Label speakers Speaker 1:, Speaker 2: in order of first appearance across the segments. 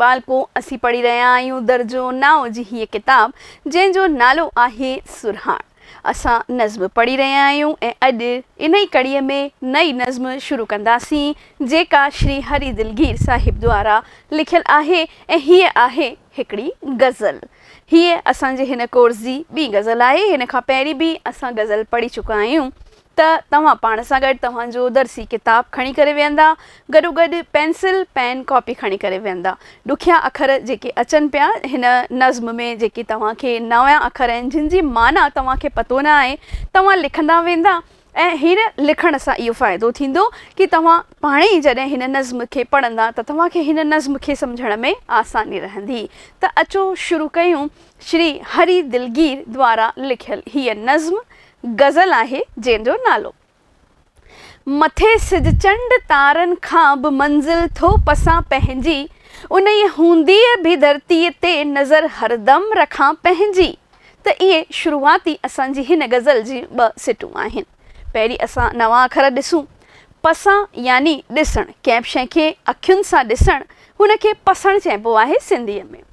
Speaker 1: ٻالڪو، اسين پڙهي رهيا آهيون درجو نائون جي هيء ڪتاب، جنهن جو نالو آهي سرهاڻ. اسان نظم پڙهي رهيا آهيون ۽ اڄ انهي ڪڙي ۾ نئين نظم شروع ڪنداسين، جيڪا شري هري دلگير صاحب دوارا لکيل آهي ۽ هيء آهي هڪڙي غزل. هيء اسان جي هن ڪورس جي ٻي غزل آهي. هن کان پهرين به اسان غزل پڙهي چڪا آهيون. ته توهان پاڻ سان گڏ توهان جو درسي ڪتاب کڻي ڪري ويهندا، گڏوگڏ پينسل، پين، ڪاپي کڻي ڪري ويهندا. ڏکيا اکر جيڪي اچن پيا هن نظم ۾ جيڪي توهان کي نويان اکر آهن جن جي معنيٰ توهان کي پتو نه آهي توهان لکندا ويندا ۽ هن لکڻ سان اهو فائدو ٿيندو ڪي توهان پاڻهي ئي جڏهن هن نظم کي پڙهندا ته توهان کي هن نظم کي سمجهڻ ۾ آساني رهندي ته اچو شروع ڪيون شري هري دلگير دوارا لکيل هيء نظم غزل آهي جنهن جو نالو. مٿي سج چنڊ تارن کان به منزل ٿو پسان پنهنجي انهيء هونديء به ڌرتيء تي نظر هردم رکان پنهنجي ته اهي شروعاتي اسان جي هن غزل جي ٻه سٽون آهن پهرين اسان نوان اکر ڏسون پسان يعني ڏسڻ ڪنهن به شيء کي اکين سان ڏسڻ هن کي پسڻ چئبو آهي سنڌيء ۾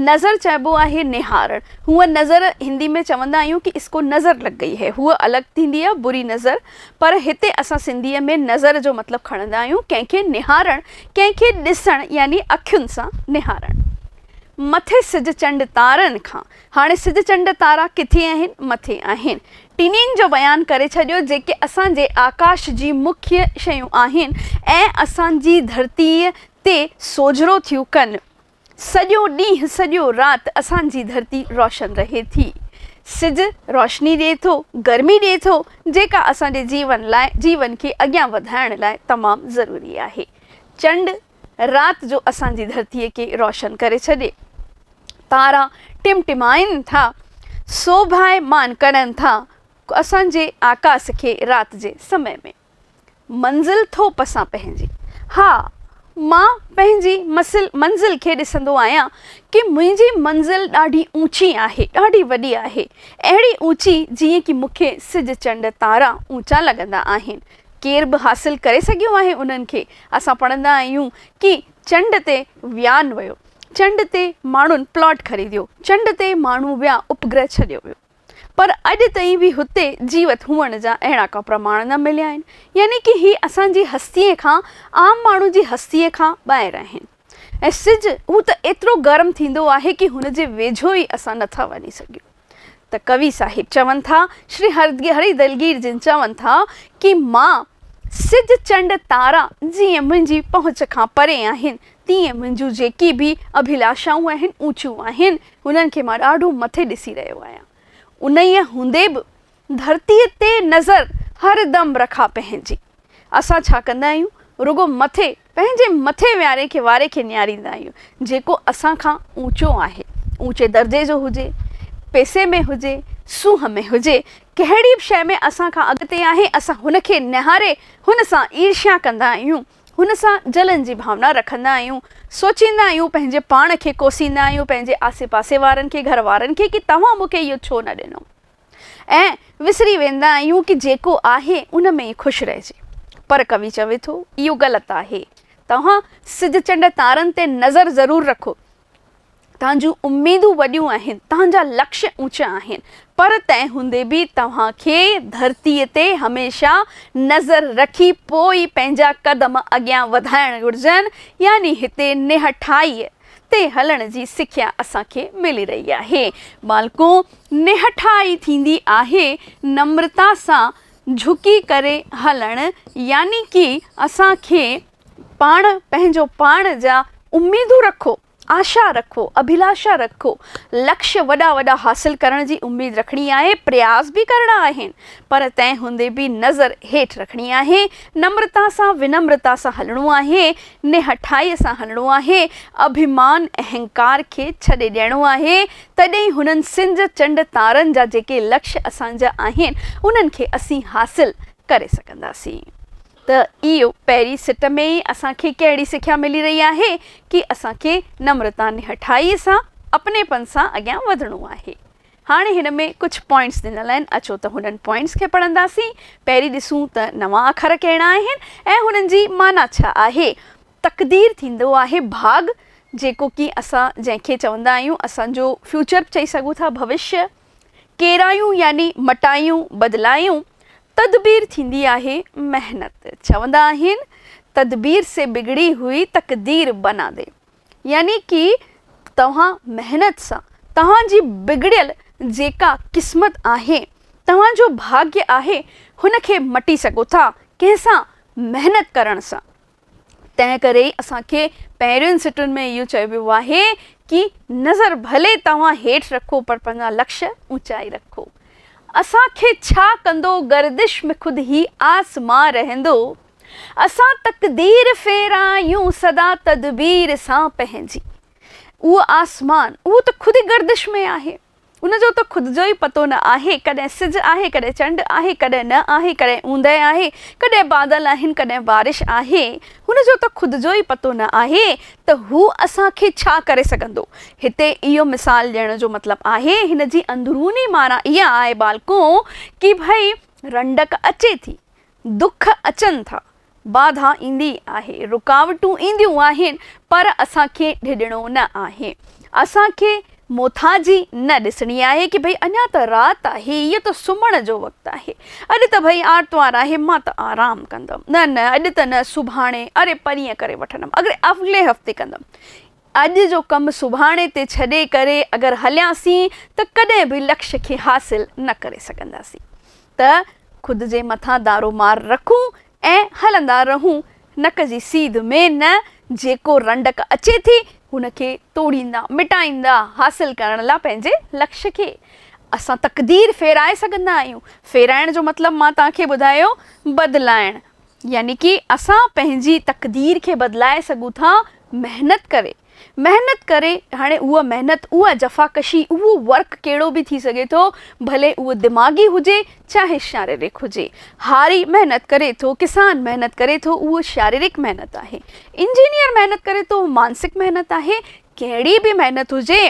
Speaker 1: نظر چئبو آهي نهارڻ. هونء نظر هندي ۾ چوندا آهيون ڪي اس ڪو نظر لڳ گئي هي هوء الڳ ٿيندي آهي بري نظر پر هتي اسان سنڌيء ۾ نظر جو مطلب کڻندا آهيون ڪنهن کي نهارڻ ڪنهن کي ڏسڻ يعني اکين سان نهارڻ. مٿي سج چنڊ تارن کان. هاڻي سج چنڊ تارا ڪٿي آهن؟ مٿي آهن. ٽنين جو بيان ڪري ڇڏيو جيڪي اسان جي آڪاش جي مکيه شيون آهن ۽ اسان جي ڌرتيء تي سوجهرو ٿيون ڪن. سڄو ڏينهن سڄو رات اسان جي ڌرتي روشن رهي ٿي. سج روشني ڏئي ٿو، گرمي ڏئي ٿو، جيڪا اسان جي جيون لاء جيون کي اڳيان وڌائڻ لاء تمام ضروري آهي. چنڊ رات جو اسان جي ڌرتي کي روشن ڪري ڇڏي. تارا ٽمٽمائن ٿا، سوڀائي مان ڪڙن ٿا، اسان جي آڪاس کي رات جي سمي ۾. منزل ٿو پسان پنهنجي. ها، مان پنهنجي منزل کي ڏسندو آهيان ڪي منهنجي منزل ڏاڍي اوچي آهي، ڏاڍي وڏي آهي، اهڙي اوچي جيئن ڪي مون کي سج چنڊ تارا اوچا لڳندا آهن. ڪير به حاصل ڪري سگهيو آهي انهن کي. اسان پڙهندا آهيون ڪي چنڊ تي ويان ويو، چنڊ تي ماڻهن پلاٽ خريديو، چنڊ تي ماڻهو ويا اپگرهه ڇڏيو ويو. پر اڄ تائين به هتي جيوت هئڻ جا اهڙا ڪا پرماڻ نه مليا آهن، يعني ڪه هي اسان جي هستيء کان، عام ماڻهو جي هستيء کان، ٻاهر آهن. ۽ سج، هو ته ايترو گرم ٿيندو آهي ڪه هن جي ويجهو ئي اسان نه ٿا وڃي سگهيون. ته ڪوي صاحب چون ٿا، شري هري دلگير جن چون ٿا ڪه مان، سج، چنڊ، تارا جيئن منهنجي پهچ کان پري آهن، تيئن منهنجون جيڪي به اڀلاشائون آهن، اوچيون آهن، هنن کي مان ڏاڍو مٿي ڏسي رهيو آهيان. انهيء هوندي به ڌرتيء تي نظر هر دم رکان پنهنجي. اسان ڇا ڪندا آهيون؟ رڳو مٿي، پنهنجي مٿي وياري کي واري کي نهاريندا آهيون، جيڪو اسان کان اوچو آهي، اوچي درجي جو هجي، پئسي ۾ هجي، سونهن ۾ هجي، ڪهڙي به شيء ۾ اسان کان اڳتي آهي، اسان هن کي نهاري هن سان عيرشيا ڪندا آهيون. هن سان جلن جي ڀاونا رکندا آهيون، سوچيندا آهيون، پنهنجي پاڻ کي ڪوسيندا آهيون، پنهنجي آسي پاسي وارن کي، گهر وارن کي ڪي توهان مون کي اهو ڇو نه ڏنو؟ ۽ وسري ويندا آهيون ڪي جيڪو آهي ان ۾ ئي خوش رهجي. پر ڪوي چوي ٿو، اهو غلط آهي. توهان سج چنڊ تارن تي نظر ضرور رکو، توهان جون اميدون وڏيون آهن، توهان جا لڪش اوچا آهن، پر تنهن هوندي به توهان کي ڌرتيء تي هميشه نظر رکي پوء ئي پنهنجا قدم اڳيان وڌائڻ گهرجن، يعني هتي نهٺائيء تي هلڻ جي سکيا اسان کي ملي رهي آهي. ٻالڪو، نهٺائي ٿيندي آهي نمرتا سان جهڪي ڪري هلڻ، يعني ڪي اسان کي. پاڻ پنهنجو پاڻ جا اميدون رکو، آشا رکو، اڀلاشا رکو، لڪش وڏا وڏا حاصل ڪرڻ جي اميد رکڻي آهي، پرياس به ڪرڻا آهن، پر تنهن هوندي به نظر هيٺ رکڻي آهي، نمرتا سان ونمرتا سان هلڻو آهي، نهٺائيء سان هلڻو آهي، اڀيمان اهنڪار کي ڇڏي ڏيڻو آهي، تڏهن ئي هنن سج چنڊ تارن جا جيڪي لڪش اسان جا آهن، انهن کي اسين حاصل ڪري سگهنداسين. ته اي پهرين سٽ ۾ ئي اسان کي ڪهڙي سکيا ملي رهي آهي ڪي اسان کي نمرتا نهٺائي سان اپني پن سان اڳيان وڌڻو آهي هاڻي هن ۾ ڪجهه پوائنٽس ڏنل آهن اچو ته هنن پوائنٽس کي پڙهنداسين پهرين ڏسون ته نوان اکر ڪهڙا آهن ۽ هنن جي معنيٰ ڇا آهي تقدير ٿيندو آهي ڀاڳ جيڪو ڪي اسان جنهن کي چوندا آهيون اسان جو فيوچر به چئي سگهون ٿا ڀوشيه ڪيرايون يعني مٽايون بدلايون تدبير ٿيندي آهي محنت چوندا آهن تدبير سي بگڙي هئي تقدير بنا دي يعني ڪي توهان محنت سان توهان جي بگڙيل جيڪا قسمت آهي توهان جو ڀاگيه آهي هن کي مٽي سگهو ٿا ڪنهن سان محنت ڪرڻ سان تنهن ڪري ئي اسان کي پهرين سٽن ۾ اهو چيو ويو آهي ڪي نظر ڀلي توهان هيٺ رکو پر پنهنجا لڪش اوچائي رکو. اسان کي ڇا ڪندو گردش ۾ خود هي آسمان رهندو. اسان تقدير ڦيرايون سدا تدبير سان پنهنجي. اهو آسمان اهو ته خود ئي گردش ۾ آهي. ان جو ته خود جو ئي پتو نه آهي، ڪڏهن سج آهي، ڪڏهن چنڊ آهي، ڪڏهن نه آهي، ڪڏهن اوندهه آهي، ڪڏهن بادل آهن، ڪڏهن بارش آهي. هن جو ته خود جو ئي پتو نه آهي ته هو اسان کي ڇا ڪري سگهندو. هتي اهو مثال ڏيڻ جو مطلب آهي، هن جي اندروني معنيٰ اها آهي ٻالڪو، ڪي ڀئي رنڊڪ اچي ٿي، دک اچن ٿا، باڌا ايندي آهي، رڪاوٽون اينديون آهن، پر اسان کي ڊڄڻو نه آهي. اسان کي موٿاجي نه ڏسڻي آهي ڪي ڀئي اڃا ته رات آهي، هيء ته سمهڻ جو وقت آهي. اڄ ته ڀئي آرتوار آهي، مان ته آرام ڪندم. نه نه، اڄ ته نه، سڀاڻي، اري پرينء ڪري وٺندم، اڳلي هفتي ڪندم. اڄ جو ڪم سڀاڻي تي ڇڏي ڪري اگر هلياسين ته ڪڏهن به لڪش کي حاصل نه ڪري سگهنداسين ته خود جي مٿان دارو مار رکون ۽ هلندا رهون نڪ جي سيڌ ۾ نه جيڪو رنڊڪ اچي ٿي ان کي ٽوڙيندا مٽائيندا حاصل ڪرڻ لا پنهنجي لڪش کي اسان تقدير ڦيرائي سگهندا آهيون ڦيرائڻ جو مطلب مان توهان کي ٻڌايو بدلائڻ يعني ڪي اسان پنهنجي تقدير کي بدلائي سگهون ٿا محنت ڪري محنت ڪري هاڻي اها محنت اها جفاڪشي اهو ورڪ ڪهڙو به ٿي سگهي ٿو ڀلي اهو دماغي هجي چاهي شاريرڪ هجي هاري محنت ڪري ٿو ڪسان محنت ڪري ٿو اهو شاريرڪ محنت آهي انجنيئر محنت ڪري ٿو اهو مانسڪ محنت آهي ڪهڙي به محنت هجي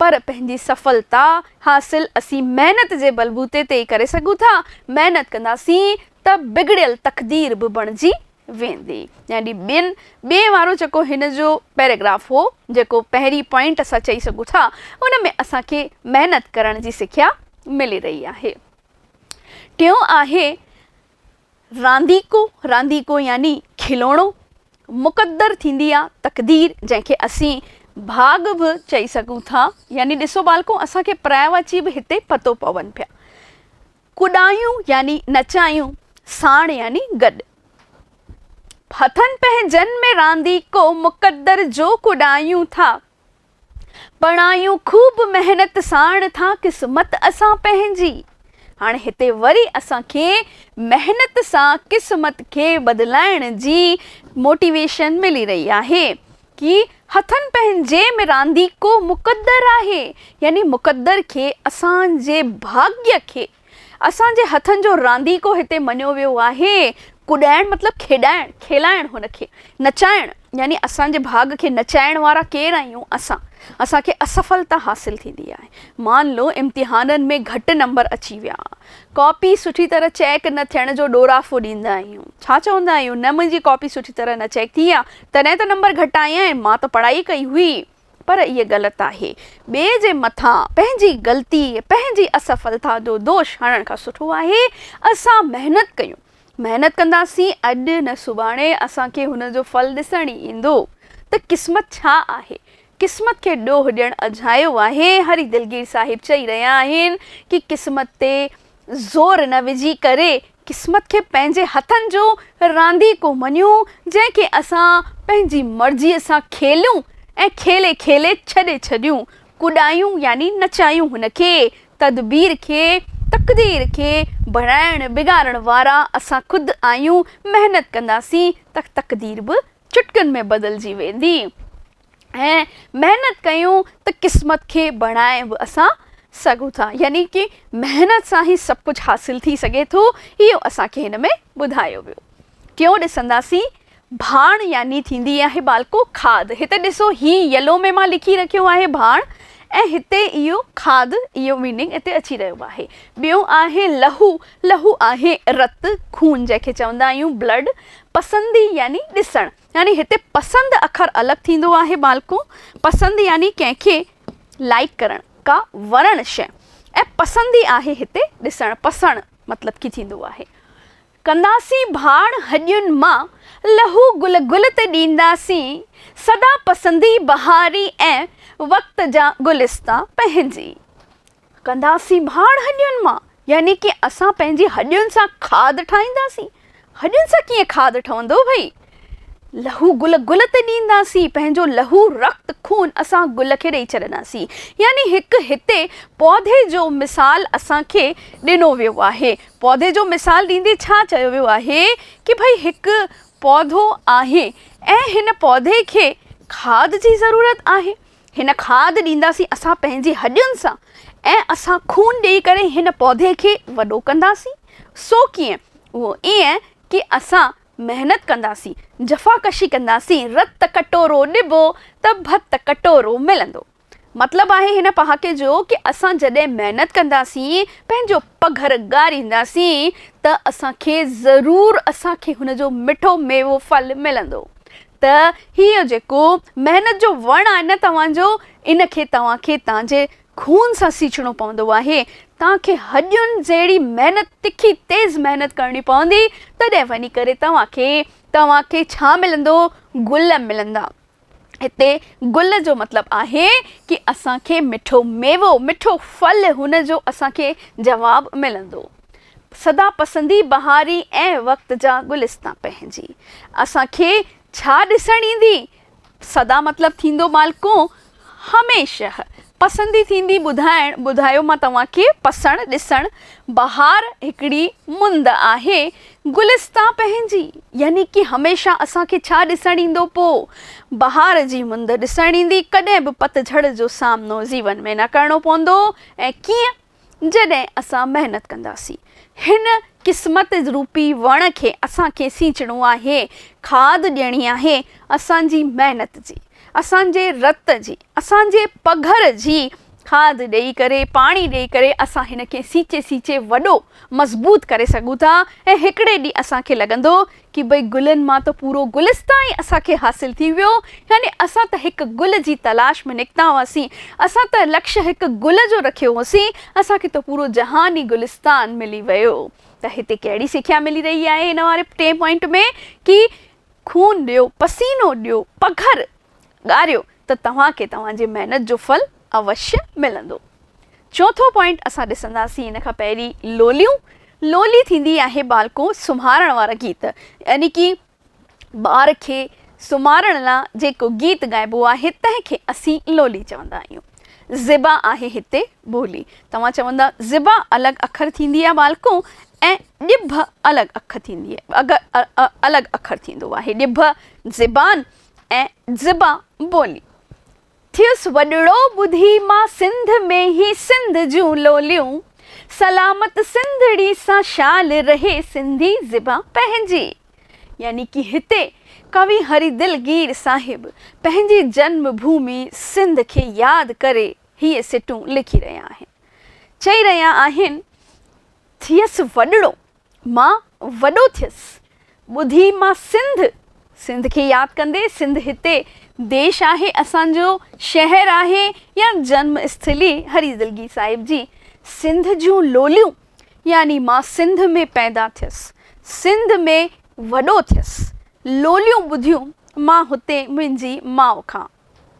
Speaker 1: پر پنهنجي سڦلتا حاصل اسين محنت جي بلبوتي تي ئي ڪري سگهون ٿا محنت ڪنداسين ته بگڙيل تقدير به بڻجي ويندي. يعني ٻين ٻئي وارو جيڪو هن جو پيراگراف هو، جيڪو پهرين پوائنٽ اسان چئي سگهون ٿا، ان ۾ اسان کي محنت ڪرڻ جي سکيا ملي رهي آهي. ٽيون آهي رانديڪو، رانديڪو يعني کلوڻو، مقدر ٿيندي آ تقدير، جنهن کي اسين ڀاڳ به چئي سگهون ٿا. يعني ڏسو ٻالڪو، اسان کي پرايوا چي به هتي پتو پون پيا. ڪڏايون يعني نچايون، ساڻ يعني گڏ. هٿن پنهنجن ۾ رانديڪو مقدر جو ڪڏايون ٿا، پڙايون خوب محنت ساڻ ٿا قسمت اسان پنهنجي. هاڻي هتي وري اسان کي محنت سان قسمت کي بدلائڻ جي موٽيويشن ملي رهي آهي. ڪي هٿن پنهنجي ۾ رانديڪو مقدر آهي، يعني مقدر کي، اسان جي ڀاڳيء کي، اسان جي هٿن جو رانديڪو هتي مڃيو ويو آهي. ڪڏائڻ مطلب کيڏائڻ، کيلائڻ هن کي. نچائڻ، يعني اسان جي ڀاڳ کي نچائڻ وارا ڪير آهيون اسان. اسان کي اصفلتا حاصل ٿيندي آهي. مان لو امتحانن ۾ گهٽ نمبر اچي ويا. ڪاپي سٺي طرح چيڪ نه ٿيڻ جو ڏورافو ڏيندا آهيون. ڇا چوندا آهيون، نه منهنجي ڪاپي سٺي طرح نه چيڪ ٿي آهي، تڏهن ته نمبر گهٽ آيائين، مان ته پڙهائي ئي ڪئي هئي. پر اهي غلط آهي. ٻئي جي مٿان پنهنجي غلطي، پنهنجي اسفلتا جو دوش هڻڻ کان سٺو آهي اسان محنت ڪيون. محنت ڪنداسين اڄ نه سڀاڻي اسان کي هن جو ڦل ڏسڻ ئي ايندو ته قسمت ڇا آهي. قسمت کي ڏوهه ڏيڻ اجهايو آهي. هري دلگير صاحب چئي رهيا آهن ڪي قسمت تي زور نه وجهي ڪري قسمت کي پنهنجي هٿن جو رانديڪو مڃون جنهن کي اسان پنهنجي مرضيء سان کيليون ۽ کيلي کيلي ڇڏي ڇڏيون ڪڏايون يعني نچايون هن کي تدبير کي تقدير کي بڻائڻ بگاڙڻ وارا اسان خود آهيون محنت ڪنداسين ته تقدير به چٽڪن ۾ بدلجي ويندي. ۽ محنت ڪيون ته قسمت کي بڻائي به اسان سگهون ٿا يعني ڪي محنت سان هي سڀ ڪجهه حاصل ٿي سگهي ٿو اهو اسان کي هن ۾ ٻڌايو ويو ٽيون ڏسنداسين ڀاڻ يعني ٿيندي آهي ٻالڪو کاڌ هتي ڏسو هي يلو ۾ مان لکي رکيو آهي ڀاڻ ۽ هتي اهو کاڌ اهو ميننگ هتي اچي رهيو آهي ٻيو آهي لهو لهو آهي رت خون جنهن کي چوندا آهيون بلڊ پسندي يعني ڏسڻ يعني هتي پسند اکر الڳ ٿيندو آهي مالڪو، پسند يعني ڪنهن کي لائيڪ ڪرڻ، ڪا وڻڻ شيء ۽ پسندي آهي هتي ڏسڻ، پسڻ مطلب ڪي ٿيندو آهي. ڪنداسين ڀاڻ هڄين مان، لهو گل گل تي ڏينداسين، سدا پسندي بهاري ۽ وقت جا گلستا پنهنجي. ڪنداسين ڀاڻ هڏين مان، يعني ڪي اسان پنهنجي هڏين سان کاڌ ٺاهينداسين. هڏين سان ڪيئن کاڌ ٺهندو ڀئي؟ لهو گل گل تي ڏينداسين، پنهنجو لهو، رت، خون اسان گل کي ڏئي ڇڏنداسين. يعني هڪ هتي پودي جو مثال اسان کي ڏنو ويو آهي. پودي جو مثال ڏيندي ڇا چيو ويو آهي ڪي ڀئي هڪ پودو آهي ۽ هن پودي کي کاڌ جي ضرورت آهي. هن کاڌ ڏينداسين اسان پنهنجي هڏين سان ۽ اسان خون ڏيئي ڪري هن پودي کي وڏو ڪنداسين. سو ڪيئن؟ اهو ايئن ڪي اسان محنت ڪنداسين، جفاڪشي ڪنداسين، رت ڪٽورو ڏبو ته ڀت ڪٽورو ملندو. مطلب آهي هن پهاڪي جو ڪي اسان جڏهن محنت ڪنداسين، پنهنجو پگهر ڳارينداسين ته اسان کي ضرور اسان کي هن جو مٺو ميوو ڦل ملندو. ته هيء جيڪو محنت جو وڻ آهي نه توهان جو، ان کي توهان کي تان جي خون سان سيچڻو پوندو آهي. تان کي هڏين جهڙي محنت، تکي تيز محنت ڪرڻي پوندي، تڏهن وڃي ڪري توهان کي، توهان کي ڇا ملندو؟ گل ملندا. هتي گل جو مطلب آهي ڪي اسان کي مٺو ميوو، مٺو ڦل، هن جو اسان کي جواب ملندو. سدا پسندي بهاري ۽ وقت جا گلستان پنهنجي اسان کي ڇا ڏسڻ ايندي سدا مطلب ٿيندو مالڪون هميشه پسندي ٿيندي ٻڌائڻ ٻڌايو مان توهان کي پسڻ ڏسڻ بهار هڪڙي مند آهي گلستان پنهنجي يعني ڪي هميشه اسان کي ڇا ڏسڻ ايندو پوء بهار جي مند ڏسڻ ايندي ڪڏهن به پتجهڙ جو سامنو زيون ۾ نه ڪرڻو پوندو ۽ ڪيئن جڏهن اسان محنت ڪنداسين. هن قسمت روپي وڻ کي اسان کي سينچڻو آهي، کاڌ ڏيڻي آهي، اسان جي محنت جي، اسان جي رت جي، اسان جي پگهر جي کاڌ ڏئي ڪري، پاڻي ڏئي ڪري اسان هن کي سينچي سينچي وڏو، مضبوط ڪري سگهون ٿا ۽ هڪڙي ڏينهن اسان کي لڳندو ڪي بئي گلن مان ته پورو گلستان ئي اسان کي حاصل ٿي ويو، يعني اسان ته هڪ گل جي تلاش ۾ نڪتا هئاسين، اسان ته لڪش هڪ گل جو رکيو هوسين، اسان کي ته پورو جهان ئي گلستان ملي ويو. ته هتي ڪهڙي سکيا ملي رهي آهي هن واري ٽئين پوائنٽ ۾ ڪي خون ڏيو، پسينو ڏيو، پگهر ڳاريو ته توهان کي توهان جي محنت جو ڦل اوشيه ملندو. چوٿون پوائنٽ اسان ڏسنداسين ان کان پهرين لوليون، لولي ٿيندي آهي ٻالڪو سمهارڻ وارا گيت يعني ڪي ٻار کي سمهارڻ لا جيڪو گيت ڳائبو آهي تنهن کي اسين لولي چوندا آهيون. زبا آهي هتي ٻولي. توهان چوندا زبا الڳ اکر ٿيندي آهي ٻالڪو ۽ ڄڀ الڳ اک ٿيندي الڳ اکر ٿيندو آهي ڄڀ زبان ۽ زبان ٻولي. ٿيس وڏڙو ٻڌي مان سنڌ ۾ هي سنڌ جون لوليون، سلامت سنڌڙي سان شال رهي سنڌي زبان پنهنجي. يعني ڪي هتي ڪوي هري دلگير صاحب پنهنجي جنم ڀومي سنڌ کي ياد ڪري هي سٽون لکي رهيا آهن. چئي رهيا آهن ٿيس وڏڙو. مان وڏو ٿيس، ٻڌي مان سنڌ، سنڌ کي ياد ڪندي، سنڌ هتي ديش آهي، اسان جو شهر آهي يا جنم اسٿلي هري دلگي صاحب جي سنڌ جون لوليون، يعني مان سنڌ ۾ پيدا ٿيس، سنڌ ۾ وڏو ٿيس، لوليون ٻڌيون مان هتي منهنجي ماء کان.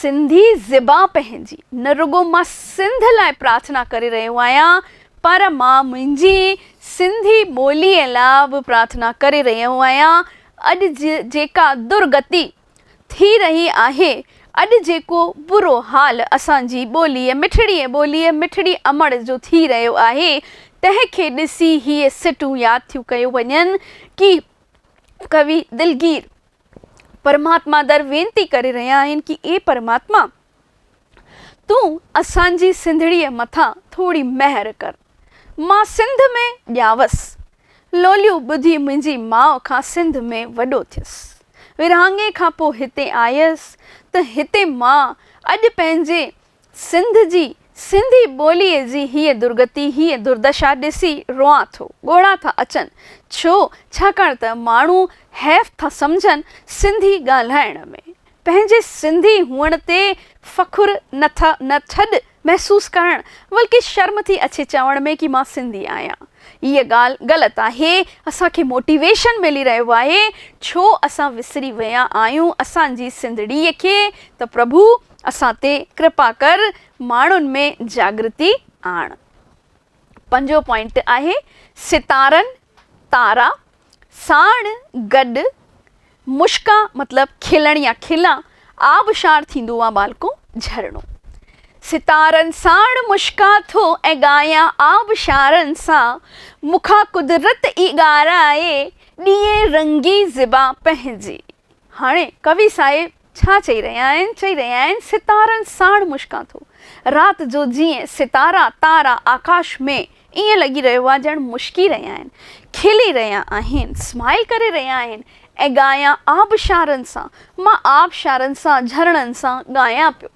Speaker 1: سنڌي زبان پنهنجي، نه رڳو مان سنڌ لاء پرارٿنا ڪري رهيو آهيان پر مان منهنجي سنڌي ٻوليء لاء به پرارٿنا ڪري رهيو آهيان، اڄ جيڪا درگتي ٿي رهي آهي، اڄ جيڪو برو حال اسان جي ٻوليء مٺڙي ۽ ٻوليء مٺڙي امڙ جو ٿي رهيو آهي، تنهن کي ڏسي هي سٽون ياد ٿيون ڪيون وڃن ڪي ڪوي دلگير. پرماتما در وينتي ڪري رهيا آهن ڪي اي پرماتما تون اسان جي سنڌڙيء مٿان ٿوري مهر ڪر مان سنڌ ۾ ڄاوس لوليون ٻڌي منهنجي ماء کان سنڌ ۾ وڏو ٿيس ورهاڱي کان پو هتي آيس ته هتي مان اڄ پنهنجي سنڌ جي سنڌي ٻوليء جي هيء درگتي، هيء دردشا ڏسي روئان ٿو، ڳوڙها ٿا اچن. ڇو؟ ڇاڪاڻ ته ماڻهو حيف ٿا سمجهن سنڌي ڳالهائڻ ۾. پنهنجي سنڌي هئڻ تي فخر نه ٿا نه ٿڏ محسوس ڪرڻ، بلڪه شرم ٿي اچي چوڻ ۾ ڪي مان سنڌي آهيان. هيء ڳالهه غلط آهي. اسان کي موٽيويشن ملي رهيو آهي. ڇو اسان وسري ويا آهيون اسان جي سنڌڙيء کي ته پرڀو اسان تي ڪرپا ڪر ماڻهن ۾ جاڳرتي آڻ. پنجون پوائنٽ آهي ستارن، تارا، ساڻ گڏ مشڪا مطلب کلڻ يا کلا آبشار ٿيندو آ ٻالڪو جهرڻو. ستارن ساڻ مشڪا ٿو ۽ ڳايان آبشارن سان مونکا قدرت ئي ڳارائي ڏيئي رنگي زبان پنهنجي. هاڻي ڪوي صاحب. ڇا چئي رهيا آهن؟ چئي رهيا آهن ستارن ساڻ مشڪان ٿو. رات جو جيئن ستارا، تارا، آڪاش ۾ ائين لڳي رهيو آهي ڄڻ مشڪي رهيا آهن، کلي رهيا آهن، Smile ڪري رهيا آهن ۽ ڳايان آبشارن سان، مان آبشارن سان، جهرڻن سان ڳايان پيو.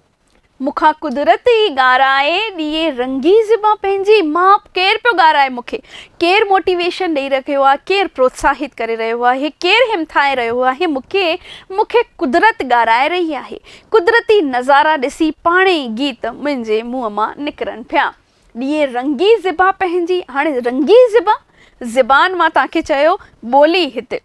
Speaker 1: مون کان قدرت ئي ڳارائي ڏيئي رنگي زبان پنهنجي ماپ ڪير پيو ڳارائي مون کي ڪير موٽيويشن ڏئي رهيو آهي ڪير پروتساهت ڪري رهيو آهي ڪير همٿائي رهيو آهي مون کي مون کي قدرت ڳارائي رهي آهي قدرتي نظارا ڏسي پاڻ ئي گيت منهنجي منهن مان نڪرن پيا ڏيئي رنگي زبان پنهنجي هاڻي رنگي زبان زبان مان توهان کي چيو ٻولي هتي.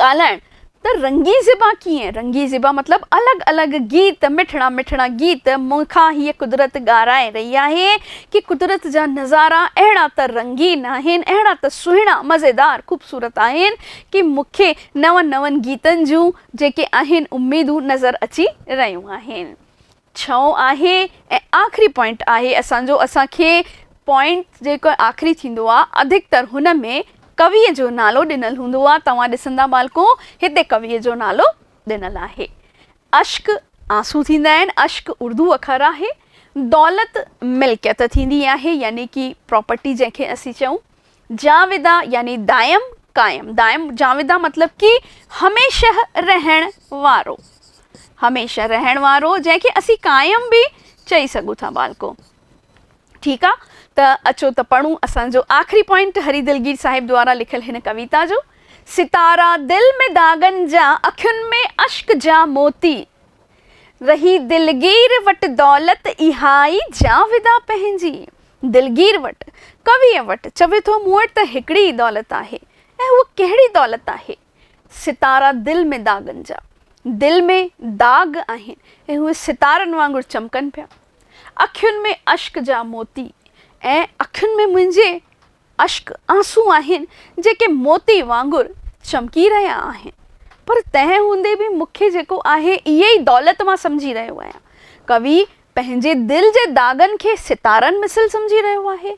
Speaker 1: ڳالهائڻ ته رنگي زيبا ڪيئن؟ رنگي زيبا مطلب الڳ الڳ گيت، مٺڙا مٺڙا گيت. مون کان هيء قدرت ڳارائي رهي آهي ڪي قدرت جا نظارا اهڙا ته رنگين آهن، اهڙا ته سهڻا، مزيدار، خوبصورت آهن ڪي مون کي نون نون گيتن جون جيڪي آهن اميدون نظر اچي رهيون آهن. ڇهون آهي ۽ آخري پوائنٽ آهي اسان جو اسان کي پوائنٽ جيڪو آخري ٿيندو آ اڌڪتر هن ۾ ڪويء جو نالو ڏنل هوندو آ توهان ڏسندا ٻالڪو هتي ڪويء جو نالو ڏنل آهي اشڪ آنسو ٿيندا آهن اشڪ اردو اکر آهي دولت ملڪيت ٿيندي آهي يعني ڪي پراپرٽي جنهن کي اسين چئون جاويدا يعني دائم، قائم. دائم جاويدا مطلب ڪي هميشه رهڻ وارو. هميشه رهڻ وارو جنهن کي اسين قائم به چئي سگهون ٿا ٻالڪو. ٺيڪ آ ته اچو ته پڙهون اسان جو آخري پوائنٽ هري دلگير صاحب دوارا لکيل هن ڪويتا جو. ستارا دل ۾ داغن جا اکين ۾ اشڪ جا موتي رهي دلگير وٽ دولت اها ئي جاويدا پنهنجي دلگير وٽ، ڪويء وٽ، چوي ٿو مون وٽ ته هڪڙي ئي دولت آهي ۽ هوء ڪهڙي دولت آهي؟ ستارا دل ۾ داغن جا دل ۾ داغ آهن ۽ اهي ستارن وانگر چمڪن پيا. اکين ۾ اشڪ جا موتي ۽ اکين ۾ منهنجي اشڪ آنسون آهن جيڪي موتي وانگر چمڪي رهيا آهن پر تنهن هوندي به مون کي جيڪو آهي اهي ئي دولت مان سمجهي رهيو آهيان. ڪوي پنهنجي دل جي داغن کي ستارن مثل سمجهي رهيو آهي.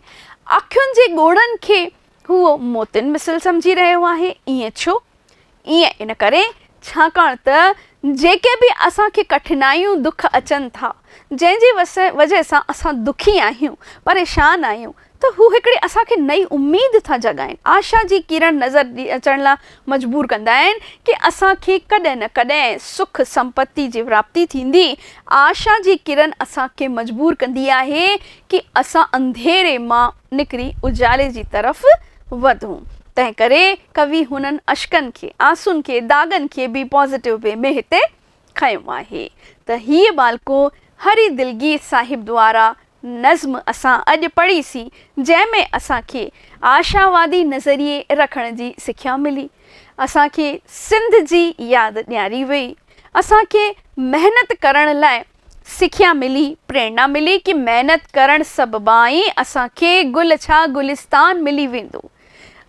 Speaker 1: اکين جي ڳوڙهن کي هو موتين مثل سمجهي رهيو آهي. ائين ڇو؟ ائين ان ڪري ڇاڪاڻ ته جيڪي به اسان کي ڪٺنائيون دک اچن ٿا، جنهن جي وجهه سان اسان دکي آهيون، پريشان آهيون ته هو هڪڙي اسان کي نئين اميد ٿا جڳائين، آشا جي ڪرڻ نظر اچڻ لاء مجبور ڪندا آهن ڪي اسان کي ڪڏهن نه ڪڏهن سک سمپتي جي وراپتي ٿيندي، آشا جي ڪرڻ اسان کي مجبور ڪندي آهي ڪي اسان انڌيري مان. نڪري اجالي جي طرف وڌون. تنهن ڪري ڪوي هنن اشڪن کي، آنسون کي، داغن کي به پازيٽو وي ۾ هتي کنيو آهي ته هيء ٻالڪو هري دلگير صاحب دوارا نظم اسان اڄ پڙهي سين جنهن ۾ اسان کي آشاوادي نظريي رکڻ جي سکيا ملي، اسان کي سنڌ جي ياد ڏياري وئي، اسان کي محنت ڪرڻ لاء سکيا ملي، پريرنا ملي ڪي محنت ڪرڻ سببان ئي اسان کي گل ڇا گلستان ملي ويندو.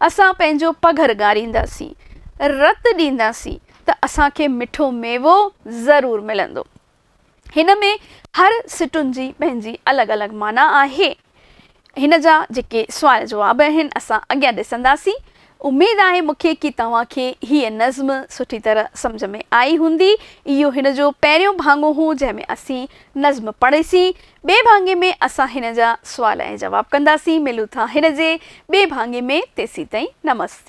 Speaker 1: اسان پنهنجو پگهر ڳارينداسين، رت ڏينداسين ته اسان کي مٺو ميوو ضرور ملندو. هن ۾ هر سٽن جي پنهنجي الڳ الڳ معنيٰ آهي. هن جا جيڪي سوال جواب آهن اسان اڳيان ڏسنداسين. اميد آهي مون کي ڪي توهان کي هيء نظم سٺي طرح سمجهه ۾ آئي هوندي. اهو هن جو پهريون ڀاڱو هو جنهن ۾ اسين نظم پڙهي سين. ٻئي ڀاڱي ۾ اسان هن جا سوال ۽ جواب ڪنداسين. ملون ٿا هن جي ٻئي ڀاڱي ۾ تيسين تائين نمستي.